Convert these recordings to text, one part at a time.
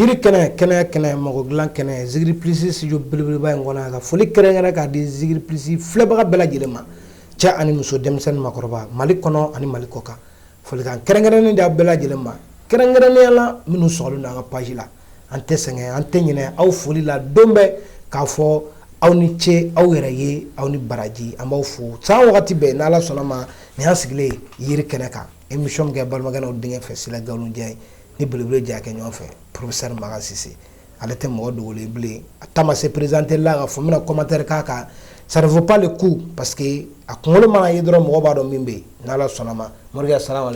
Yiri kɛnɛ kɛnɛ kɛnɛ mɔgɔ dilan kɛnɛ zikiri plus studio belebeleba in kɔnɔ a ka foli kɛrɛnkɛrɛn k'a di zikiri plus filɛbaga bɛɛ lajɛlen ma cɛ ani muso denmisɛnnin makɔrɔba mali kɔnɔ ani mali kɔkan folikan kɛrɛnkɛrɛnnen d'aw bɛɛ lajɛlen ma kɛrɛnkɛrɛnnenya la minnu sɔgɔlen don an ka page la an tɛ sɛgɛn an tɛ ɲinɛ aw foli la don bɛɛ k'a fɔ aw ni ce aw yɛrɛ ye aw ni baraji an b'aw fo san wagati bɛɛ n'ala sɔnna ma nin y'an sigilen yiri kɛnɛ kan E misikɛ balimakɛlaw denkɛ fɛ sira nkalonjɛ ye ni boloolo diya kɛ ɲɔgɔn fɛ porosri makansi ale tɛ mɔgɔ dogo bilen a taama se perezte la ka fɔ bɛna kɔmatɛre k'a kan sarinfɔpale ko pa que a kunkolo mana ye dɔrɔn mɔgɔ b'a dɔn min bɛ yen n' sɔnnama mori sara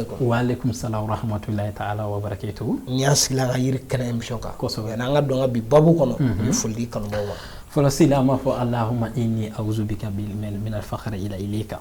kun sa hamatulila taa ala to n y'a sigi ka yiri kɛnɛ in misisɔ kansɔ yan an ka dɔn bi baa kɔnɔ bɛ foli kanu fɔlɔsi an b'a fɔ alahami awzbi ka fa i i kan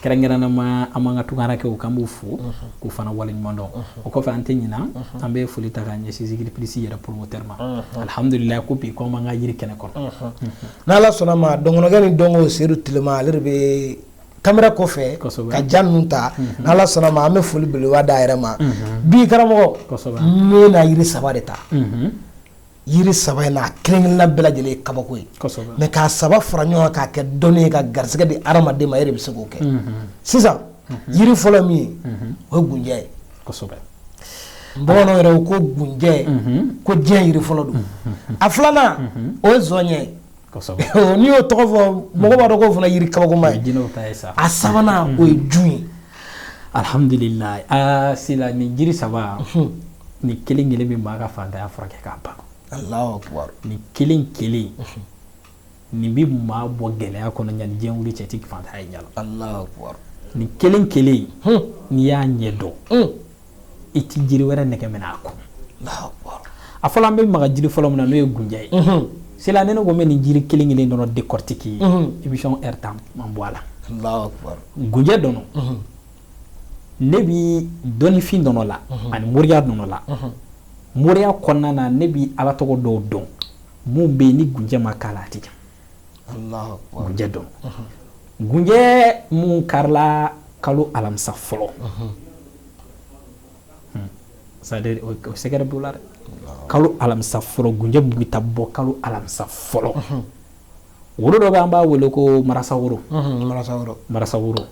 kɛrɛnkɛrɛnnama an b'an ka tungarankɛw k'an b'u fo k'u fana waleɲuman dɔn o kɔfɛ an tɛ ɲina an bɛ foli ta ka ɲɛsin zikiri plus yɛrɛ promoteur ma alihamdulila ko bi ko an b'an ka yiri kɛnɛ kɔnɔ n'ala sɔnna ma dɔnkɛ ni dɔn sedu tilema ale de bɛ caméra kɔfɛ ka ja ninnu ta n'ala sɔnna ma an bɛ foli beleba d'a yɛrɛ ma bi karamɔgɔ n bɛna yiri saba de ta yiri saba in na kelenkelenna bɛɛ lajɛlen ye kabako ye mais k'a saba fara ɲɔgɔn kan k'a kɛ dɔnni ye ka garisɛgɛ di hadamaden ma e de bɛ se k'o kɛ sisan yiri fɔlɔ min ye o ye gunjɛ ye bamananw yɛrɛ ko gunjɛ ko diɲɛ yiri fɔlɔ don a filanan o ye zɔnɲɛ ye n'i y'o tɔgɔ fɔ mɔgɔ b'a dɔn k'o fana yiri kabakoma ye jinɛ ta ye sa a sabanan o ye jun ye alihamdulila aa sila nin jiri saba nin kelen kelen bɛ maa ka faantanya furakɛ k'a ban nin kelen kelen nin bɛ maa bɔ gɛlɛya kɔnɔ yan ni diɲɛ wili cɛ i tɛ faantanya ye ɲa la nin kelen kelen n'i y'a ɲɛ dɔn i tɛ jiri wɛrɛ nɛgɛ minɛ a kɔ a fɔlɔ an bɛ maga jiri fɔlɔ min na n'o ye gunjɛ ye sila ne ko n bɛ nin jiri kelen kelen dɔrɔn décortiquer émission heure tan man bɔ a la gunjɛ dɔrɔn ne bɛ dɔnnifin dɔn o la ani moriya dɔn o la moriya kɔnɔna na ne bɛ ala tɔgɔ dɔw dɔn minnu bɛ yen ni gunjɛ ma k'a la a tɛ gunjɛ dɔn gunjɛ min karila kalo alamisa fɔlɔ secret b'o la dɛ kalo alamisa fɔlɔ gunjɛ bɛ taa bɔ kalo alamisa fɔlɔ woro dɔ bɛ an b'a wele ko marasa woro marasa woro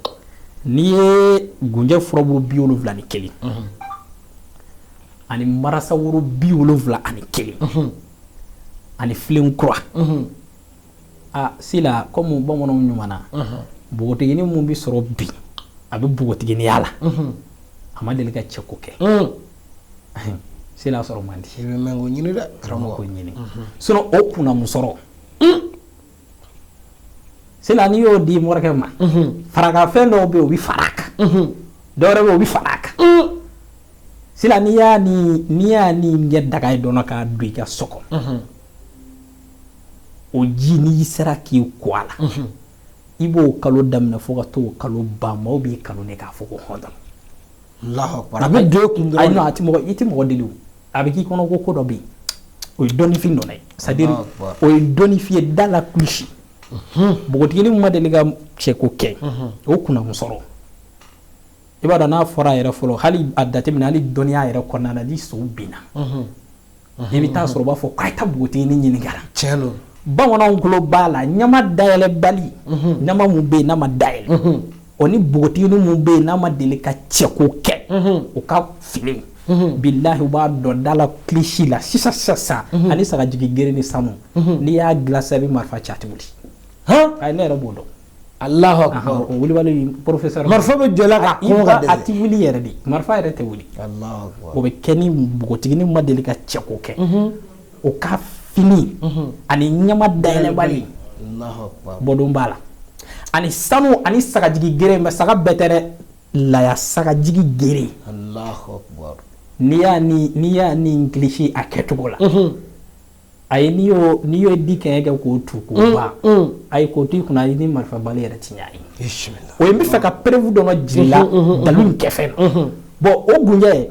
n'i ye gunjɛ furaburu bi wolonwula ani kelen ani marasa woro bi wolonwula ani kelen ani filen kura aa sila kɔmi bamananw ɲuman na npogotigini min bɛ sɔrɔ bi a bɛ npogotiginiya la a ma deli ka cɛko kɛ sila sɔrɔ man di ɲini dɛ karamɔgɔ ɲini o kunnamusɔrɔ sila n'i y'o di morikɛ ma farakafɛn dɔw bɛ yen o bɛ fara a kan dɔ wɛrɛ bɛ yen o bɛ fara a kan sila n'i y'a ni n'i y'a ni ɲɛ daga ye dɔrɔn k'a don i ka so kɔnɔ o ji n'i sera k'i ko a la i b'o kalo daminɛ fo ka t'o kalo ban maaw b'i kanu de k'a fɔ ko hɔn a bɛ don kun a tɛ mɔgɔ i tɛ mɔgɔ deli a bɛ k'i kɔnɔ ko ko dɔ bɛ yen o ye dɔnnifin dɔ ye c'est-à-dire o ye dɔnnifin ye da la kilisi npogotigini min ma deli ka cɛko kɛ o kunnamusɔrɔ i b'a dɔn n'a fɔra a yɛrɛ fɔlɔ hali a jateminɛ hali dɔnniya yɛrɛ kɔnɔna na ni so binna i bɛ taa sɔrɔ u b'a fɔ k'a ta npogotigini ɲininka tiɲɛ don bamananw tulo b'a la ɲama dayɛlɛbali ɲama min bɛ yen n'a ma day O ni npogotigini min bɛ yen n'a ma deli ka cɛko kɛ o ka fini bilahi b'a dɔn da la kilisi la sisan sisan sa ani sagajigi gere ni sanu n'i y'a dilan sa i bɛ marifa ci a tɛ wuli ne yɛrɛ b'o dɔn a lah sa marifa bɛ jɔ a tɛ wuli yɛrɛ de marifa yɛrɛ tɛ wuli o bɛ kɛ ni npogotigini ma deli ka cɛko kɛ o ka fini ani ɲama dayɛlɛbali bɔdon b'a la ani sanu ani sagajigi gere mais saga bɛɛ tɛ dɛ laya sagajigi gere n'i y'a n'i y'a ni kilisi a kɛcogo la ayi n'i y n'i ye dikɛɲɛ kɛ k'o tu k'o ban ayi k'o to i kunna e ni marifa bali yɛrɛ tɛ ɲɔgɔn ye o ye n b'a fɛ ka preuve dɔ jira i la dalu kɛfɛn na bɔn o gunjɛ ye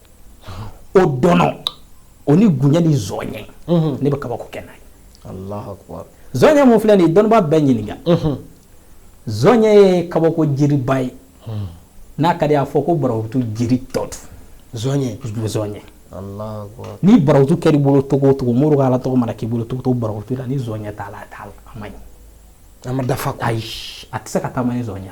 o dɔnɔ o ni gunjɛ ni zɔnɲɛ ne bɛ kabako kɛ n'a ye zɔnɲɛ min filɛ nin ye dɔnnibaa bɛɛ ɲininka zɔnɲɛ ye kabako jiriba ye n'a ka di a fɔ ko barawutu jiri tɔ zɔnɲɛ zɔnɲɛ ni barawutu kɛr'i bolo cogo o cogo mori ala tɔgɔ mana k'i bolo cogo o cogo barawutu la ni zɔnɲɛ t'a la t'a la a ma dafa a tɛ se ka taa zɔnɲɛ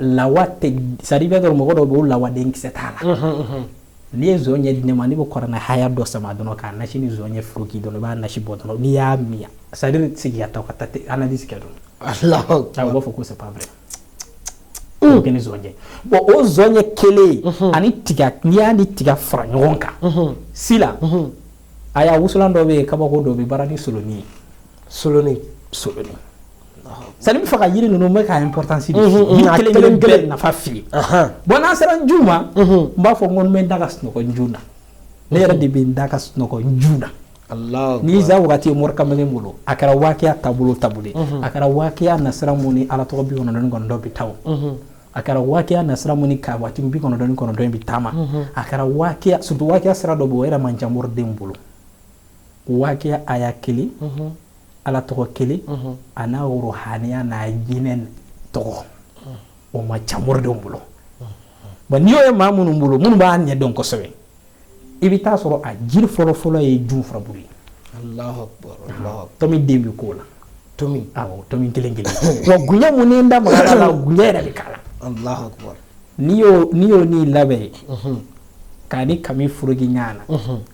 la c'est-à-dire i b'a dɔn mɔgɔ dɔ bɛ yen o lawa denkisɛ t'a la n'i ye zɔnɲɛ di ne ma n' bɛ kuranɛ haya dɔ sama dɔrɔn k'a nasi ni zɔnɲɛ foroki dɔrɔn i b'a nasi bɔ dɔrɔn n'i y'a min sa sigi ka taa ka taa analyse kɛ dɔrɔn u b'a fɔ ko ça va kɛ ni bɔn o zɔnɲɛ kelen ani n'i y'a ni tiga fara ɲɔgɔn kan sila a y'a wusulan dɔ bɛ yen kabako dɔ bɛ baara ni solonin ye soloni soloni c'est-à-dire n b'a fɛ ka yiri ninnu bɛɛ ka importance di yiri kelen kelen nafa f'i ye bon n'an sera jun ma n b'a fɔ n ko n bɛ n da ka sunɔgɔ jun na ne yɛrɛ de bɛ n da ka sunɔgɔ jun na ni iza wagati ye mori kamalen bolo a kɛra waakiya taabolo taabolo a kɛra waakiya nasira mun ni ala tɔgɔ bi kɔnɔntɔn kɔnɔntɔn bɛ taa a kɛra waakiya nasira mun ni ka waati bi kɔnɔntɔn kɔnɔntɔn bɛ taama a kɛra waakiya surtout waakiya sira dɔ bɛ o yɛrɛ man ca mori denw bolo Waakiya aya kelen ala tɔgɔ kelen a n'a wuruhaniya n'a jinɛ tɔgɔ o man ca moridenw bolo bon n'i y'o ye maa minnu bolo minnu b'a ɲɛ dɔn kosɛbɛ i bɛ taa a sɔrɔ a jiri fɔlɔ fɔlɔ ye jun furabulu ye tomi den bɛ k'o la kelen kelen gunjɛ minnu da yɛrɛ bɛ k'a la n'i y'o nin labɛn k'a ni kami furu ɲɔgɔn na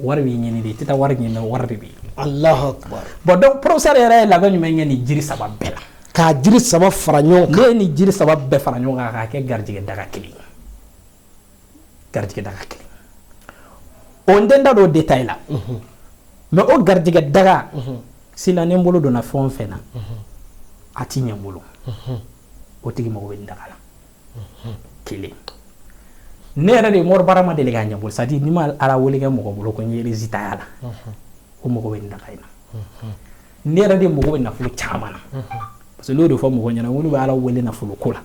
wari b'i ɲini de i tɛ taa wari ɲini wari de b'i alahu akubar bon donc professeur yɛrɛ ye labɛn jumɛn kɛ nin jiri saba bɛɛ la k'a jiri saba fara ɲɔgɔn kan ne ye nin jiri saba bɛɛ fara ɲɔgɔn kan k'a kɛ garijɛgɛ daga kelen ye garijɛgɛ daga kelen o n tɛ n da don o détail la mais o garijɛgɛ daga sila ni n bolo donna fɛn o fɛn na a ti ɲɛ n bolo o tigi mago bɛ nin daga la kelen ne yɛrɛ de mori baara ma deli ka ɲɛ n bolo c'est-à-dire ni ma ala wele kɛ mɔgɔ bolo ko n ye résultat y'a la o mago bɛ daga in na ne yɛrɛ de mago bɛ nafolo caman na parce que n'o de fɔ mɔgɔ ɲɛna olu bɛ ala wele nafolo ko la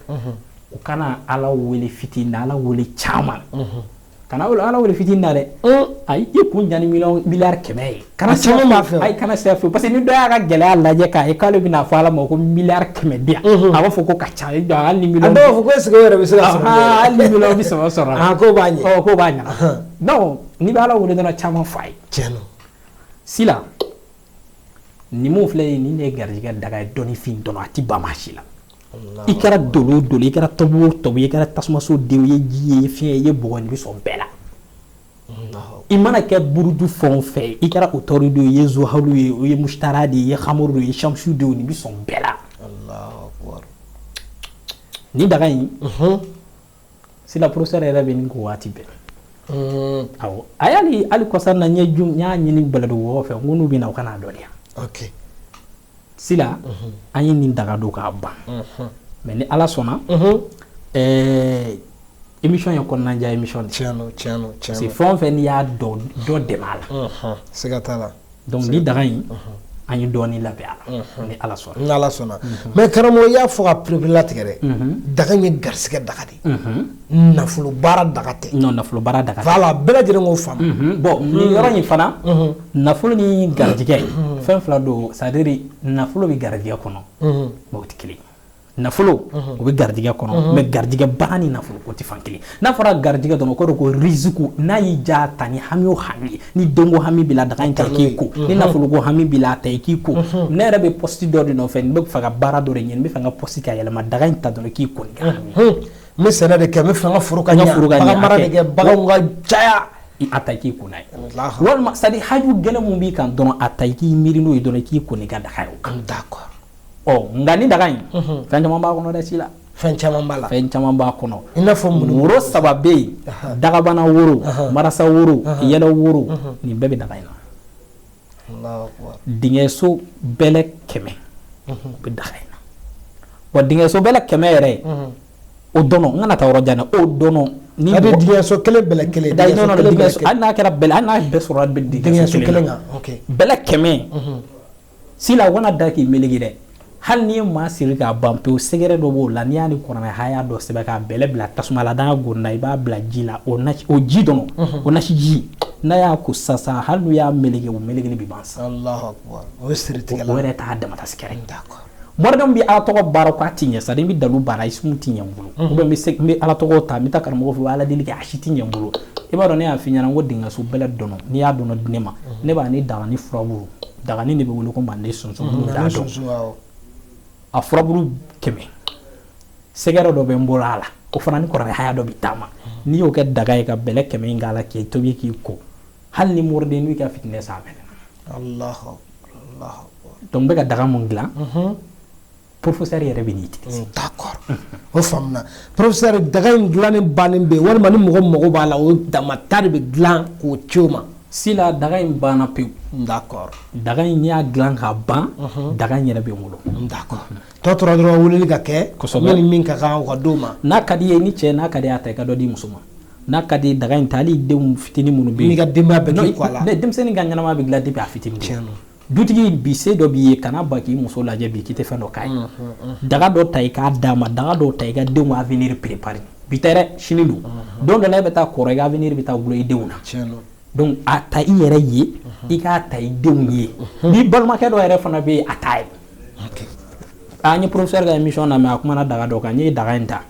u kana ala wele fitinin na ala wele caman kana ala wele fit na dɛ ayi i kun jan mi kɛmɛ ye kana caman fɛ a kana saya fɛ parce que ni da y'a ka gɛlɛya lajɛ k' k'ale bɛna'a fɔ ala ma ko mi kɛmɛ di a b'a fɔ ko ka ca fɔ bɛ se bɛ saba sɔrɔ ko b'a ɲɛ ko b'a ɲɛ ni bɛ ala wele dɔrɔn caman fa ye cɛn si la ni filɛ ye ni ne garijɛgɛ daga ye dɔnfin dɔn a tɛ ba si la i kɛra dolo o dolo ye i kɛra tɔbu o tɔbu ye i kɛra tasumaso den ye ji ye fiɲɛ ye bɔgɔ nin bɛ sɔn bɛɛ la i mana kɛ buruju fɛn o fɛn i kɛra otɔridi ye i ye zuhalu ye o ye musitara de ye hamuru de ye samusu de ye nin bɛ sɔn bɛɛ la ni daga in sila professeur yɛrɛ bɛ nin ko waati bɛɛ mm. awɔ a y'ale hali kɔsa na n ye jum n y'a ɲini baladu wɔgɔ fɛ n ko n'u bɛ na u ka n ladɔnniya okay. sila mhm. an ye nin daga don k'a ban mhm. mais ni ala sɔnna mhm. eh, émission ye kɔnɔnajɛya émission de tiɲɛ don tiɲɛ don tiɲɛ don parce que fɛn o fɛn n'i y'a dɔn dɔ dɛmɛ a la siga t'a la Donc ni daga in an ye dɔɔnin labɛn a la ni ala sɔnna ni ala sɔnna mais karamɔgɔ y'a fɔ k'a pereperelatigɛ dɛ daga ye garisɛgɛ daga de nafolo baara daga tɛ nafolo baara daga tɛ voilà bɛɛ lajɛlen k'o faamu bon nin yɔrɔ in fana nafolo ni garijɛgɛ fɛn fila don c'est-à-dire nafolo bɛ garijɛgɛ kɔnɔ mais o tɛ kelen nafolo o bɛ garijɛgɛ kɔnɔ mais garijɛgɛ baara ni nafolo o tɛ fan kelen n'a fɔra garijɛgɛ dɔrɔn o kɔrɔ ko rizku n'a y'i ja ta ni hami o hami ni donko hami b'i la daga in ta i k'i ko ni nafolo ko hami b'i la a ta i k'i ko ne yɛrɛ bɛ poste dɔ de nɔfɛ n bɛ fɛ ka baara dɔ de ɲini n bɛ fɛ n ka poste ka yɛlɛma daga in ta dɔrɔn i k'i ko n bɛ sɛnɛ de kɛ n bɛ fɛ n ka foro ka ɲɛ bagan mara de kɛ baganw ka caya a ta i k'i ko n'a ye walima c'est-à-dire haju gɛlɛn min b'i kan dɔrɔn a ta i k'i miiri n'o ye dɔrɔn i k'i ko n'i ka daga ye da ɔ nka ni daga in fɛn caman b'a kɔnɔ dɛ si la fɛn caman b'a la fɛn caman b'a kɔnɔ i n'a fɔ woro saba bɛ yen dagabana woro marasa woro yɛlɛ woro nin bɛɛ bɛ daga in na dingɛso bɛlɛ kɛmɛ o bɛ daga in na wa dingɛso bɛlɛ kɛmɛ yɛrɛ o dɔrɔn n kana taa yɔrɔ jan dɛ o dɔrɔn n'i bɛ dingɛso kelen bɛlɛ kelen da hali n'a kɛra bɛlɛ hali n'a bɛɛ sɔrɔ dingɛso kelen kan bɛlɛ kɛmɛ sila u kana da k'i melege dɛ hali n'i ye maa siri k'a ban pewu sɛgɛrɛ dɔ b'o la n'i y'a ni kuranɛ haya dɔ sɛbɛn k'a bɛlɛ bila tasuma la n'a gonna i b'a bila ji la o nasi o ji dɔrɔn o nasi ji n'a y'a ko sisan hali n'u y'a melege o melekeli bɛ ban sa Alahu akbar o ye siritigɛ la o yɛrɛ t'a damata sɛgɛrɛ morikɛ min bɛ ala tɔgɔ baara k'a ti ɲɛ c'est-à-dire n bɛ dalu baara ismu ti ɲɛ n bolo ou bien n bɛ ala tɔgɔ ta n bɛ taa karamɔgɔ fɛ ala deli kɛ a si ti ɲɛ n bolo i b'a dɔn ne y'a f'i ɲɛna n ko dingɛso bɛlɛ dɔrɔn n'i y'a dɔrɔn di ne ma ne b'a ni daga ni furabu Daganin de bɛ wele ko manden sunsun minnu t'a dɔn, sunsun, awɔ, a furabulu kɛmɛ sɛgɛrɛ dɔ bɛ n bolo a la o fana ni kuranɛ haya dɔ bɛ taama n'i y'o kɛ daga ye ka bɛlɛ kɛmɛ in k'a la k'i tobi k'i ko hali ni moridenin y'i ka fitinɛ san a mɛnna, Alahu akbar, Alahu akbar, donc n bɛ ka daga min dilan, unhun professeur yɛrɛ bɛ o faamuna professeur daga in dilanni bannen bɛ walima ni mɔgɔ mago b'a la o dama ta de bɛ dilan k'o ci o ma si la daga in banna pewu d'accord daga in n y'a dilan ka ban daga in yɛrɛ bɛ n bolo tɔ tora dɔrɔn weleli ka kɛ ni min ka kan o ka d'o ma n'a ka di ye ni cɛ n'a ka di a ta i ka dɔ di muso ma n'a ka di daga in ta hali denw fitinin minnu bɛ yen n'i ka denbaya bɛɛ k'i ko a la denmisɛnnin ka ɲɛnama bɛ dilan depuis a fitinin dutigi bi se dɔ b'i ye kana ba k'i muso lajɛ bi k'i tɛ fɛn dɔ k'a ye daga dɔ ta i k'a d'a ma daga dɔ ta i ka denw ka avenir préparer bi tɛ dɛ sini don don dɔ la e bɛ taa kɔrɔ i ka avenir bɛ taa gulɔ i denw na donc a ta i yɛrɛ ye i k'a ta i denw ye n'i balimakɛ dɔ yɛrɛ fana bɛ yen a t'a ye n ye professeur ka émission lamɛn a kumana daga dɔ kan n ye daga in ta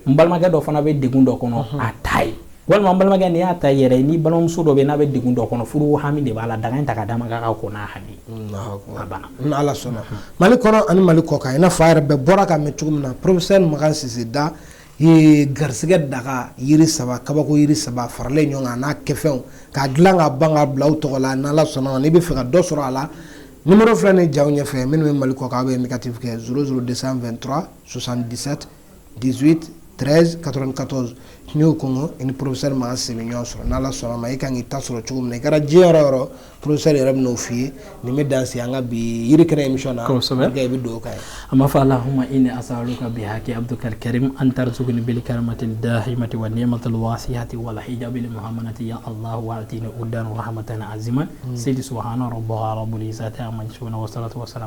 n balimakɛ dɔ fana bɛ degun dɔ kɔnɔ a t'a ye walima n balimakɛ n'i y'a ta yɛrɛ ni balimamuso dɔ bɛ yen n'a bɛ degun dɔ kɔnɔ furu hami de b'a la daga in ta ka d'a ma k'a ka ko n'a hami Alahu akbar. a banna Ni Ala sɔnna Mali kɔnɔ ani Mali kɔkan i n'a fɔ a yɛrɛ bɛɛ bɔra k'a mɛn cogo min na professeur Makan Sise Da ye garisɛgɛ daga yiri saba kabako yiri saba faralen ɲɔgɔn kan a n'a kɛfɛnw k'a dilan ka ban k'a bila aw tɔgɔ la ni Ala sɔnna ma n'i b'a fɛ ka dɔ sɔrɔ a la numéro filɛ nin ye jaw ɲɛfɛ minnu bɛ Mali kɔkan aw bɛ indicatif kɛ 00223 77 18 13 94 n y'o kɔngɔ i ni porosɛri maa sɛbɛn bɛ ɲɔgɔn sɔrɔ n' sɔnna ma i ka kan k'i ta sɔrɔ cogo min na i kɛra diɲɛ yɔrɔ yɔrɔ porosɛri yɛrɛ bɛ'o f'i ye nin bɛ dan an ka bi yiri kɛra imi na i bɛ don kan a ma fɔ a la hma i ni asa ka bi hakɛ bɛ karikarime an taara cogo ni bɛ karamatɛ damati wa n ma tɛ waati wala i da mahamana tɛ yan ala waati ni o dan hamata ni anzime seyi su hɔn bɔ boli sa ma sara